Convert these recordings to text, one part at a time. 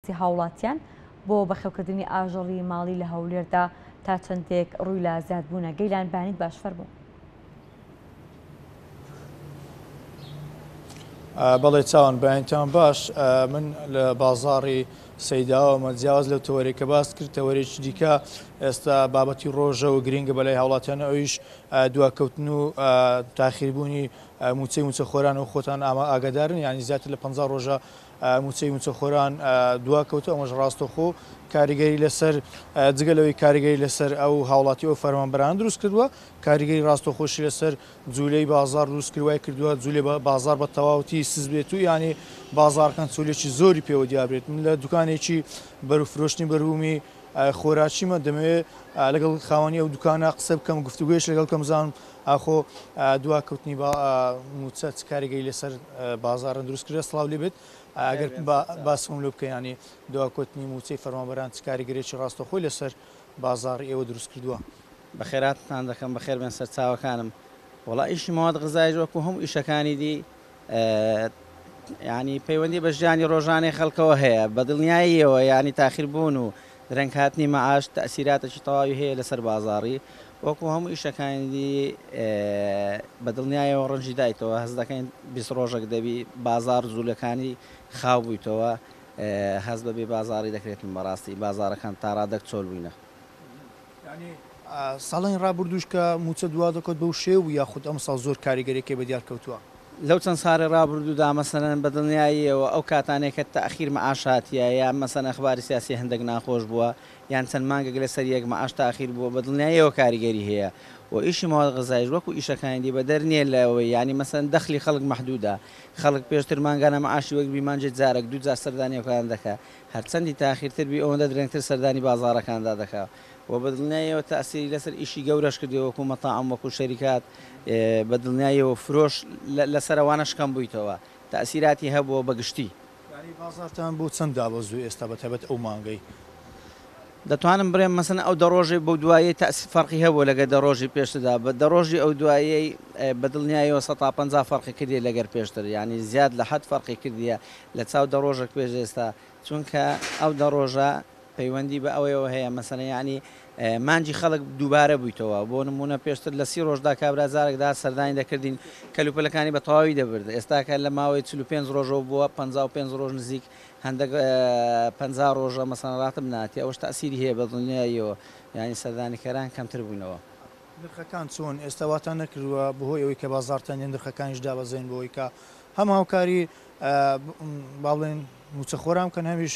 هاوڵاتیان بۆ بەخێوکردنی ئاژەڵی ماڵی لە هەولێردا تا چەندێک ڕووی لە زیادبوونە؟ گەیلان بانیت باش فەرموو. بەڵێ چاوان بەیانتان باش من لە بازاڕی سەیداوەمە جیاواز لەو تەوەری کە باست کرد تەوەرێکی دیکە ئێستا بابەتی ڕۆژەوە گرنگە بەلای هاوڵاتیان ئەویش دواکەوتن و تاخیربوونی موچەی موچەخۆران و خۆتان ئاما ئاگدارن ینی زیاتر لە پ ڕۆژە مووچەی مووچەخۆران دواکەوتوو، ئەمەش ڕاستەوخۆ کاریگەری لەسەر جگە لەوەی کاریگەری لەسەر ئەو هاوڵاتی ئەو فەرمانبەرانە دروست کردووە، کاریگەری ڕاستەخۆشی لەسەر جوولەی بازار دروست کرد، وای کردووە جوولەی بازار بە تەواوەتی سست بێت و یانێ بازاڕەکان چوولێکی زۆری پێوە دیار بێت. من لە دوکانێکی بەرو فرۆشتنی بەروومی خۆراکیمە، دەمەوێت لەگەڵ خاوەنی ئەو دوکانە قسە بکەم، گفتوگۆیەکی لەگەڵ بکەم بزانم ئاخۆ دواکەوتنی با مووچە چ کاریگەری لەسەر بازاڕ دروست کردوە؟ سڵاو لێ بێت. ئەگەر باسم لۆ بکەی یانی دواکەوتنی مووچەی فەرمانبەران چ کاریگەریی ڕاستەوخۆی لەسەر بازاڕی ئێوە دروست کردوە؟ بەخێراتنتان دەکەم، بەخێربێن سەرچاوەکانم. وەڵا ئیشی مەواد غزایش وەکو هەموو ئیشەکانی دی یانی پەیوەندی بە ژیانی ڕۆژانەی خەڵکەوە هەیە، بە دڵنیاییەوە یانی تاخیربوون و درەنگ هاتنی مەعاش تەئسیراتەکی تەواوی هەیە لەسەر بازاڕی، وەکو هەموو ئیشەکانی دی بە دڵنیایەوە ڕەنجی دایتەوە، هەست دەکەین بیست ڕۆژەک دەبی بازاڕ جولەکانی خاو بویتەوە، هەست بە بێ بازاڕی دەکرێت، بەڕاستی بازاڕەکان تاڕادەک چۆل بووینە. ساڵانی ڕابردووش کە مووچە دوا دەکەوت بەو شێوە بوو یاخود ئەمساڵ زۆر کاریگەریەکەی بە دیار کەوتووە؟ لەو چەند ساڵی ڕابردوودا مەسەلەن بە دڵنیاییەوە ئەو کاتانەی کە تاخیر مەعاش هاتیە یان مەسەلەن ئەخباری سیاسی هەندەک ناخۆش بووە یان چەند مانگەک لە سەر یەک مەعاش تاخیر بووە بە دڵنیاییەوە کاریگەری هەیە و ئیشی مواد غذایش وەکو ئیشەکانی دی بەدەر نیە لە ئەوەی یانی مەسەلەن دەخلی خەڵک مەحدوودە خەڵک پێشتر مانگانە مەعاشی وەگربی مانگێک جارەک دوو جار سەردانی ئەو کارانە دەکا هەرچەندی تاخیرتر بی ئەوەندە درەنگتر سەردانی بازاڕەکاندا دەکا و بە دڵنیاییەوە تاسیری لەسەر ئیشی گەورەش کردیە وەکو مەتاعم وەکو شەریکات بە دڵنیاییەوە فرۆش لەسەر ئەوانەش کەم بویتەوە تاسیراتی هەبوە بە گشتی. یانی بازاڕتان بۆ چەند دابەزو ئێستا بە تایبەت ئەو مانگەی؟ دەتوانم برێم مەسەن ئەو دە ڕۆژەی بەو دوایەی تاسی فەرقی هەبوە لەگەر دە ڕۆژی پێشتردا بە دە ڕۆژی ئەو دوایەی بە دڵنیاییەوە سەتا پەنجا فەرقی کردیە لەگەر پێشتر یانی زیاد لە حەد فەرقی کردیە لە چاو دە ڕۆژەک پێش ئێستا چونکە ئەو دە ڕۆژە پەیوەندی بە ئەوەیەوە هەیە مەسەلەن یەعنی مانگی خەڵک دووبارە بوویتەوە بۆ نموونە پێشتر لە سی ڕۆژدا کابرا جارێک دەهات سەردانی دەکردین کەلوپەلەکانی بە تەواوی دەبرد ئێستاکە لە ماوەی چل و پێنج ڕۆژەوە بووە پەنجا و پێنج ڕۆژ نزیک هەندێک پەنجا ڕۆژە مەسەلەن ڕاتب ناتی ئەوەش تەئسیری هەیە بە دڵنیاییەوە یەعنی سەردانیکەران کەمتر بوونەوە. نرخەکان چۆن ئێستا واتان نەکردووە بەهۆی ئەوەی کە بازاڕ تەنگە نرخەکانیش دابەزێن بەوەی کە هەم هاوکاری با بڵێن مووچەخۆران بکەن، هەمیش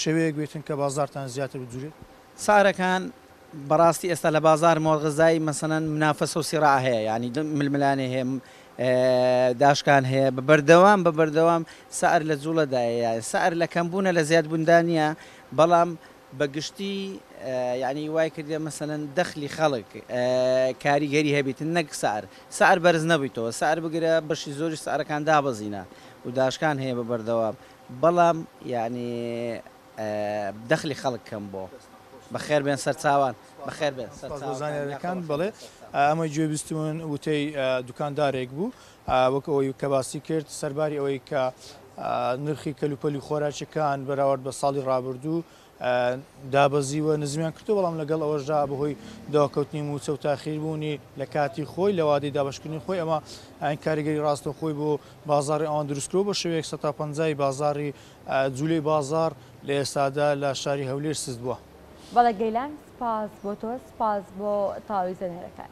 شێوەیەک بێتن کە بازاڕتان زیاتر بجووڵێت. سارەکان، بەڕاستی ئێستا لە بازار مۆڵغەزای مەسەنەن منافەسە و سیڕاع هەیە، یانی ململانێ هەیە، داشکان هەیە، بە بەردەوام بە بەردەوام سعر لە جووڵەدایە، یانی سعر لە کەمبوونە لە زیادبووندا نییە، بەڵام بە گشتی یەعنی وای کردیە مەسەلەن دەخلی خەڵک کاریگەری هەبیت نەک سعر سعر بەرز نەبویتەوە سعر بگرە بەشی زۆریش سعرەکان دابەزینە و داشکان هەیە بە بەردەوام بەڵام یەعنی دەخلی خەڵک کەم بۆ بەخێر بێن سەرچاوان بەخێر بێن سەرچاوان سپاس بۆ زانیاریەکان بەڵێ ئەمەی گوێ بیستوون وتەی دوکاندارێک بوو وەک ئەوەی کە باسی کرد سەرباری ئەوەی کە نرخی کەلوپەلی خۆراکیەکان بەراورد بە ساڵی ڕابردوو دابەزیوە نزمیان کردو بەڵام لەگەڵ ئەوەشدا بەهۆی داکەوتنی موچە و تاخیربوونی لە کاتی خۆی لە وادەی دابشکردنی خۆی ئەمە ئەین کاریگەری ڕاستە خۆی بۆ بازاری ئەوان دروستکرۆ بە شێوەیەک 150 بازاری جوولەی بازار لە ئێستادا لە شاری هەولێر سست بووە. بەڵێ گەیلان سپاس بۆ تۆ سپاس بۆ تاویزە نێرەکان.